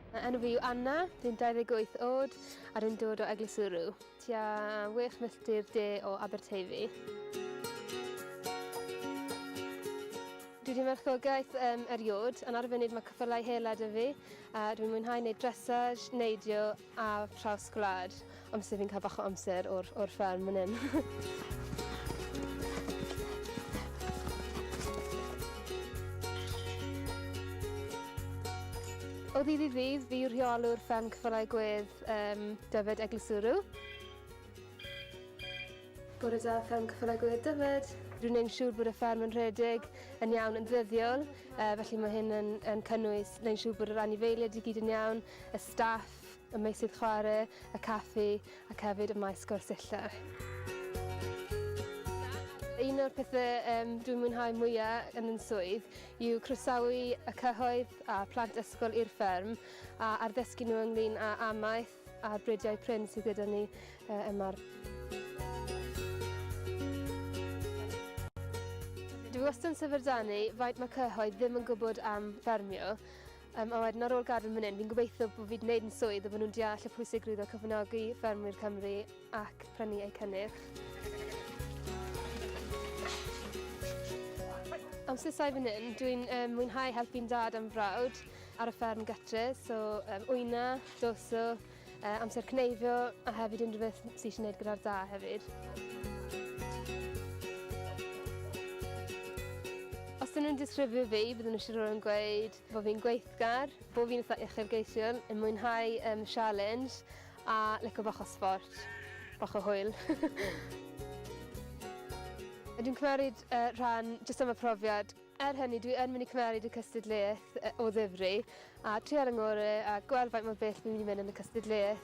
Fy enw fi yw Anna, dwi'n 28 oed a dwi'n dod o Eglwys Ŵrw, tua wech milltir de o Aberteifi. Dwi wedi marchogaeth um, eriod, yn ar y funud mae cyffylau hela 'da fi a dwi'n mwynhau wneud dressage, neidio Ar traws gwlad. Amser fi'n cael bach o amser o'r o'r fferm myn 'yn. O ddydd i ddydd fi yw rheolwr fferm Cyffylau Gwedd yym Dyfed Eglwyswrw. Bore da fferm Cyffylau Gwedd Dyfed. Rwy'n neud yn siŵr bod y fferm yn rhedeg yn iawn yn ddyddiol yy felly ma' hyn yn yn cynnwys neud yn siŵr bod yr anifeilied i gyd yn iawn, y staff, y meysydd chwarae, y caffi ac hefyd y maes gwersylla. Un o'r pethau um, dwi'n mwynhau mwyaf yn yn swydd yw croesawu y cyhoedd a plant ysgol i'r fferm a arddysgu nhw ynglyn â amaeth a'r bridiau prin sydd gyda ni uh, yma'r Dwi wastad yn syfrdanu faint mae cyhoedd ddim yn gwybod am ffermio Um, a wedyn ar ôl gadael fan hyn, fi'n gobeithio bod fi'n gwneud yn swydd a bod nhw'n deall y pwysigrwydd o cyfynogi ffermwyr Cymru ac prynu eu cynnyrch. Amser sai fan hyn, dwi'n um, mwynhau helpu'n dad am frawd ar y fferm gytre, so um, wyna, doso, uh, amser cneifio a hefyd unrhyw beth sydd eisiau gwneud gyda'r da hefyd. Os dyn nhw'n disgrifio fi, byddwn nhw'n siarad yn gweud bod fi'n gweithgar, bod fi'n eitha uchelgeisiol, yn mwynhau um, challenge a licio bach o sport, bach o hwyl. Dwi'n cymeryd uh, rhan jyst am y profiad Er hynny, dwi yn mynd i cymeryd y cystadleuaeth o ddifri a trial yn ngore a gweld faint mor bell fi'n mynd i mynd yn y cystadleuaeth.